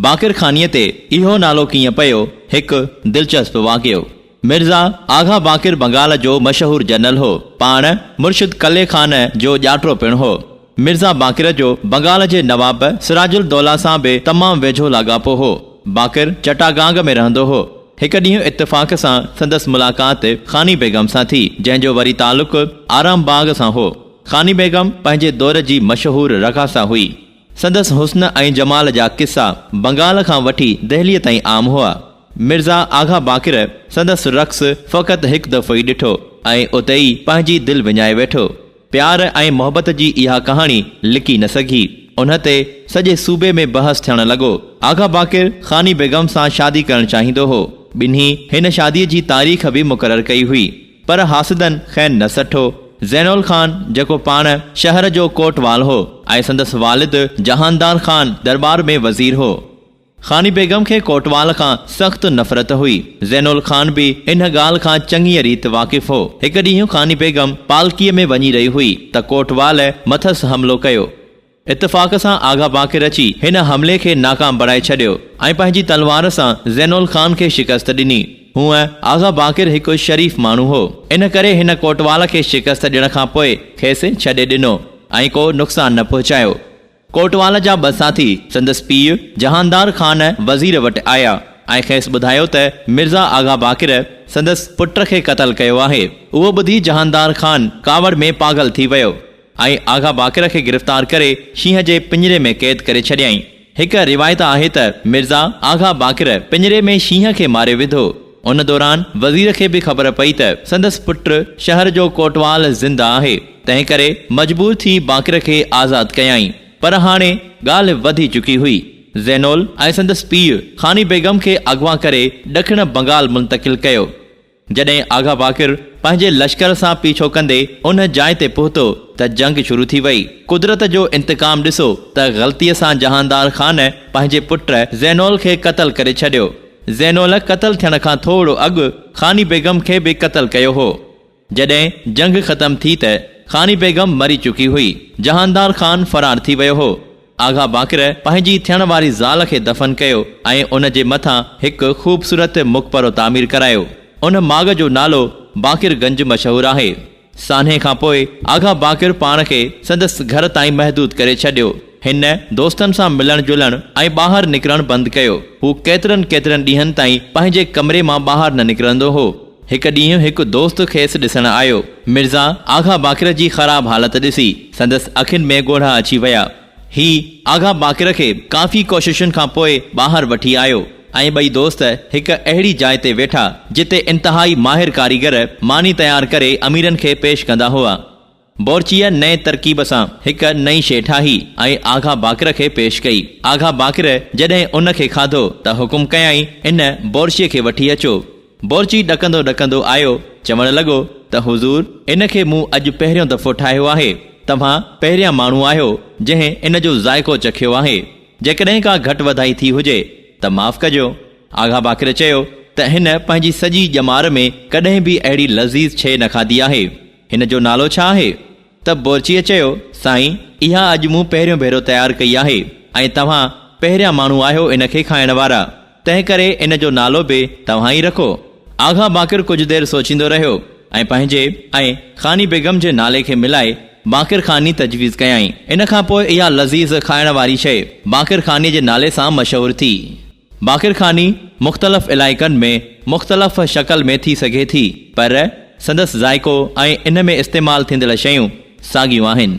باقر خانيء تي اهو نالو ڪيئن پيو، هڪ دلچسپ واقعو. مرزا آغا باقر بنگال جو مشهور جنرل هو. پاڻ مرشد قلعي خان جو ڄاٽرو پڻ هو. مرزا باقر جو بنگال جي نواب سراج الدوله سان به تمام ويجهو لاڳاپو هو. باقر چٽاگانگ ۾ رهندو هو. هڪ ڏينهن اتفاق سان سندس ملاقات خاني بيگم سان ٿي، جنهن جو وري تعلق آرام باغ سان هو. خاني بيگم پنهنجي دور جي مشهور رقاصه هئي. سندس حسن ۽ جمال جا قصا بنگال کان وٺي دهليء تائين عام هئا. مرزا آغا باقر سندس رقص فقط هڪ دفعو ئي ڏٺو ۽ اتي ئي پنهنجي دل وڃائي ويٺو. پيار ۽ محبت جي اها ڪهاڻي لڪي نه سگهي. ان تي سڄي صوبي ۾ بحث ٿيڻ لڳو. آغا باقر خاني بيگم سان شادي ڪرڻ چاهيندو هو. ٻنهي هن شاديء جي تاريخ به مقرر ڪئي هئي. پر حاسدن خين نه سٺو. زينول خان جيڪو پاڻ شهر جو ڪوٽوال هو ۽ سندس والد جهاندار خان درٻار ۾ وزير هو. خاني بيگم کي ڪوٽوال کان سخت نفرت هئي. زينول خان به ان ڳالهه کان چڱيء ريت واقف هو. هڪ ڏينهن خاني بيگم پالڪيء ۾ وڃي رهي هئي ته ڪوٽوال مٿس حملو ڪيو. اتفاق سان آغا باقر اچي هن حملي کي ناڪام بڻائي ڇڏيو ۽ پنهنجي تلوار سان زينول خان کي شڪست ڏني. هونء آغا باقر هڪ شريف ماڻهو هو، ان ڪري هن ڪوٽوال کي شڪست ڏيڻ کان پوء کيس ڇڏي ڏنو ۽ ڪو نقصان نه پهچايو. ڪوٽوال جا ٻه ساٿي سندس پيء جهاندار خان وزير وٽ آيا ۽ کيس ٻڌايو ته مرزا آغا باقر سندس پٽ کي قتل ڪيو آهي. اهو ٻڌي جهاندار خان ڪاوڙ ۾ پاڳل ٿي ويو. ۽ آغا باقر کي گرفتار ڪري شينهن جي پڃري ۾ قيد ڪري ڇڏيائين. هڪ روايت آهي ته مرزا آغا باقر پڃري ۾ شينهن کي ماري وڌو. ان دوران وزير کي به خبر پئي ته سندس پٽ شهر جو ڪوٽوال زنده آهي، تنهن ڪري مجبور ٿي باقر کي آزاد ڪيائين. پر هاڻي ڳالهه وڌي چڪي هئي. زينول ۽ سندس پيء خاني بيگم کي اغوا ڪري ڏکڻ بنگال منتقل ڪيو. جڏهن آغا باقر پنهنجي لشڪر سان پيڇو ڪندي ان جاء تي پهتو ته جنگ شروع ٿي وئي. قدرت جو انتقام ڏسو ته غلطيء سان جهاندار خان پنهنجي پٽ زينول کي قتل ڪري ڇڏيو. زينول قتل ٿيڻ کان ٿوڙو اڳ خاني بيگم کي به قتل ڪيو هو. جڏهن جنگ ختم ٿي ته خاني بيگم مري چڪي هئي. جهاندار خان فرار ٿي ويو هو. آغا باقر پنهنجي ٿيڻ واري زال کي دفن ڪيو ۽ ان جي مٿان هڪ خوبصورت مقبرو تعمير ڪرايو. ان ماڳ جو نالو باقر گنج مشهور آهي. سانحي کان پوء آغا باقر پاڻ کي سندس گهر تائين محدود ڪري ڇڏيو. هن دوستن سان ملڻ جلڻ ۽ ٻاهر نڪرڻ بند ڪيو. هو ڪيترن ڪيترن ڏينهن تائين پنهنجي ڪمري مان ٻاهر نه نڪرندو هو. هڪ ڏينهن هڪ دوست کيس ڏسڻ آيو. مرزا آغا باقر جي خراب حالت ڏسي سندس اکين ۾ ڳوڙها اچي ويا. هي آغا باقر کي ڪافي ڪوششن کان پوء ٻاهر وٺي آيو ۽ ٻئي دوست هڪ اهڙي جاء تي ويٺا جتي انتهائي ماهر ڪاريگر ماني تيار ڪري اميرن کي پيش ڪندا هئا. بورچيء نئين ترڪيب سان هڪ نئين شيء ٺاهي ۽ آغا باقر کي پيش ڪئي. آغا باقر جڏهن ان کي کاڌو ته حڪم ڪيائين، ان بورچيء کي وٺي اچو. بورچي ڏڪندو ڏڪندو آيو، چوڻ لڳو ته حضور! ان کي مون اڄ پهريون دفعو ٺاهيو آهي. توهان پهريان ماڻهو آهيو، جنهن ان جو ذائقو چکيو آهي. جيڪڏهن ڪا گهٽ وڌائي ٿي هجي ته معاف ڪجو. آغا باقر چيو ته هن پنهنجي سڄي ڄمار ۾ ڪڏهن به اهڙي لذيذ شيء نه کاڌي آهي. هن جو نالو ڇا آهي؟ ته بورچيء چيو، سائين، اها اڄ مون پهريون ڀيرو تيار ڪئي آهي ۽ توهان پهريان ماڻهو آهيو ان کي کائڻ وارا، تنهن ڪري ان جو نالو به توهان ئي رکو. آغا باقر ڪجهه دير سوچيندو رهيو ۽ پنهنجي ۽ خاني بيگم جي نالي کي ملائي باقر خاني تجويز ڪيائين. ان کان پوء اها لذيذ کائڻ واري شيء باقر خانيء جي نالي سان مشهور ٿي. باقرخاني مختلف علائقن ۾ مختلف شڪل ۾ ٿي سگهي ٿي پر سندس ذائقو ۽ ان ۾ استعمال ٿيندڙ شيون ساڳيون آهن.